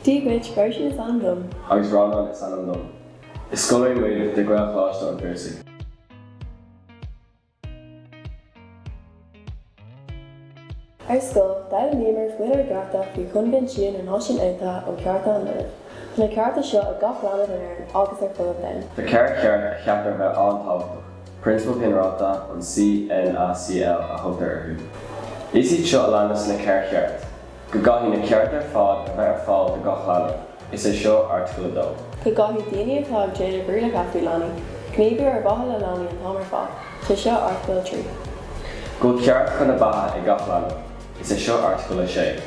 Dia dhuit, Bertie is ainm dom. Agus Rónán is ainm dom. Is scoláirí muid de Ghaelcholáiste an Phiarsaigh. Ar scoil, d'fhoghlaimíomar faoinár gcearta faoi Choinbhinsiún na Náisiún Aontaithe um Chearta an Linbh. Tá na cearta seo ag gach leanbh in Éirinn agus ar fud an domhain. Tá ceithre cheart a cheaptar a bheith an-tábhachtach, Prionsabail Ghinearálta an CNACL a thugtar orthu. Is iad seo a leanas na ceithre cheart. Go gcaithfidh na cearta ar fad a bheith ar fáil do gach leanbh, is é seo Airteagal 2. Go gcaithfidh daoine atá ag déanamh rialacha faoi leanaí, gníomhú ar mhaithe le leanaí an t-am ar fad, is é seo Airteagal 3. Go bhfuil ceart chun na beatha ag gach leanbh, is é seo Airteagal 6.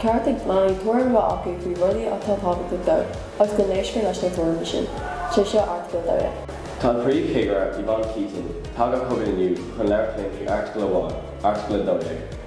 Ceart ag leanaí tuairim a bheith acu faoi rudaí atá tábhachtach dóibh agus go n-éistear leis na tuairimí sin, is é seo Airteagal 12. Tá an Príomhchigire, Yvonne Keating, tagtha chugainn inniu chun labhairt linn faoi airteagal amháin, Airteagal 12.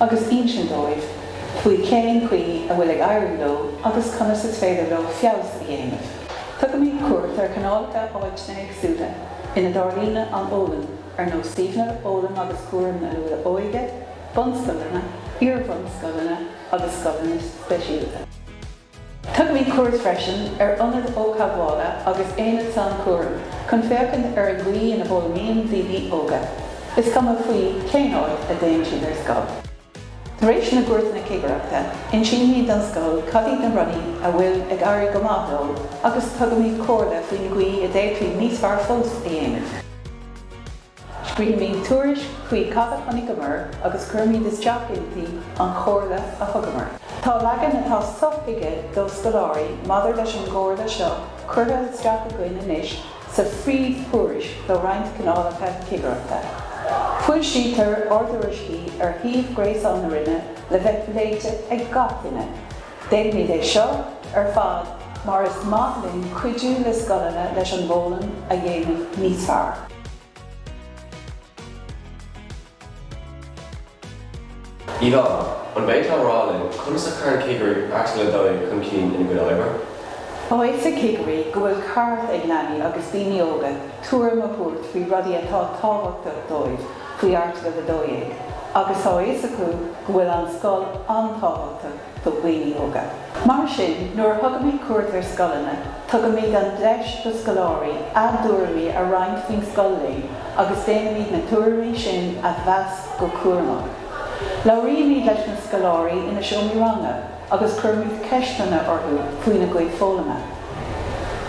agus insint dóibh faoi cén chaoi a bhfuil ag éirí leo agus conas is féidir leo feabhas a dhéanamh. Tugaimid cuairt ar chineálacha áiteanna éagsúla ina dtarlaíonn an fhoghlaim, ar nós suíomhanna foghlaim agus cúraim na luath-óige, bunscoileanna, iar-bhunscoileanna agus scoileanna speisialta. Tugaimid cuairt freisin ar Ionad Ógtheagmhála agus Aonad Sainchúraim chun féachaint ar an gcaoi ina bhfoghlaimíonn daoine óga, is cuma faoi cén áit a dtéann siad ar scoil. Tar éis na gcuairteanna cigireachta, insímid don scoil cad iad na rudaí a bhfuil ag éirí go maith leo agus tugaimid comhairle faoin gcaoi a d'fhéadfaí níos fearr fós a dhéanamh. Scríobhaimid tuairisc faoi cad a chonaiceamar agus cuirimid isteach inti an chomhairle a thugamar. Tá leagan atá sothuigthe do scoláirí maidir leis an gcomhairle seo curtha isteach againn anois sa phríomhthuairisc do roinnt cineálacha cigireachta. Foilsítear ár dtuairiscí ar shuíomh gréasáin na Roinne le bheith léite ag gach duine. Déanaimid é seo ar fad mar is maith linn cuidiú le scoileanna leis an bhfoghlaim a dhéanamh níos fearr. Yvonne, an bhféadfá a rá linn conas a chuireann cigirí Airteagal 12 chun cinn ina gcuid oibre? Tá a fhios ag cigirí go bhfuil ceart ag leanaí agus daoine óga tuairim a thabhairt faoi rudaí atá tábhachtach dóibh faoi Airteagal 12 agus tá a fhios acu go bhfuil an scoil an-tábhachtach do dhaoine óga. Mar sin, nuair a thugaimid cuairt ar scoileanna, tugaimid an deis do scoláirí a dtuairimí a roinnt faoin scoil linn agus déanaimid na tuairimí sin a mheas go cúramach. Labhraímid leis na scoláirí ina seomraí ranga agus cuirimid ceisteanna orthu faoina gcuid foghlama.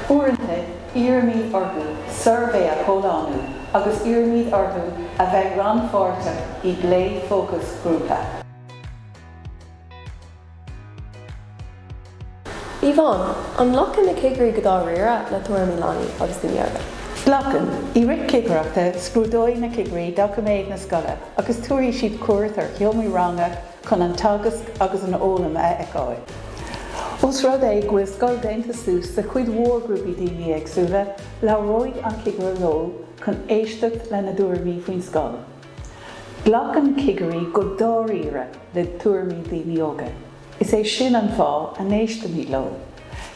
Uaireanta, iarraimid orthu suirbhé a chomhlánú agus iarraimid orthu a bheith rannpháirteach i bplé fócasghrúpa. Yvonne, An nglacann na cigirí go dáiríre le tuairimí leanaí agus daoine óga? Glacann. I rith cigireachta, scrúdóidh na cigirí doiciméid na scoile agus tabharfaidh siad cuairt ar sheomraí ranga chun an teagasc agus an fhoghlaim a fheiceáil. Ós rud é go bhfuil scoil déanta suas de chuid mhór grúpaí daoine éagsúla, labhróidh an cigire leo chun éisteacht lena dtuairimí faoin scoil. Glacann cigirí go dáiríre le tuairimí daoine óga, is é sin an fáth a n-éistimid leo.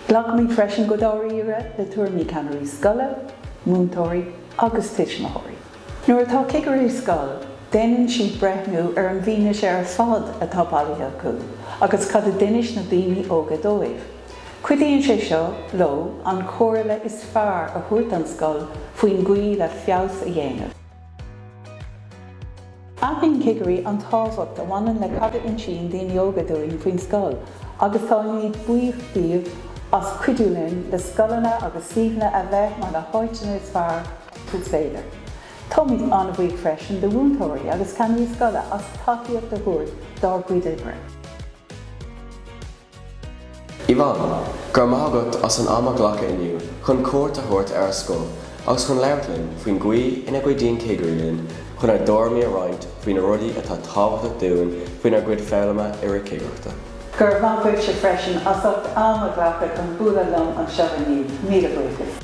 Glacaimid freisin go dáiríre le tuairimí ceannairí scoile, múinteoirí agus tuismitheoirí. Nuair atá cigire i scoil, déanann siad breithniú ar an bhfianaise ar fad atá bailithe acu agus cad a d'inis na daoine óga dóibh. Cuidíonn sé seo leo an chomhairle is fearr a thabhairt don scoil faoin gcaoi le feabhas a dhéanamh. Aithníonn cigirí an tábhacht a bhaineann le cad a insíonn daoine óga dúinn faoin scoil agus táimid buíoch díobh as cuidiú linn le scoileanna agus suíomhanna a bheith mar na háiteanna is fearr is féidir. Táimid an-bhuíoch freisin de mhúinteoirí agus ceannairí scoile as tacaíocht a thabhairt dár gcuid oibre. Yvonne, Go raibh maith agat as an am a ghlacadh inniu chun cuairt a thabhairt ar ár scoil agus chun labhairt linn faoin gcaoi ina gcuidíonn cigirí linn chun ár dtuairimí a roinnt faoi na rudaí atá tábhachtach dúinn faoinár gcuid foghlama i rith cigireachta. Go raibh maith agatsa freisin as ucht am a ghlacadh chun bualadh liom anseo inniu. Míle buíochas.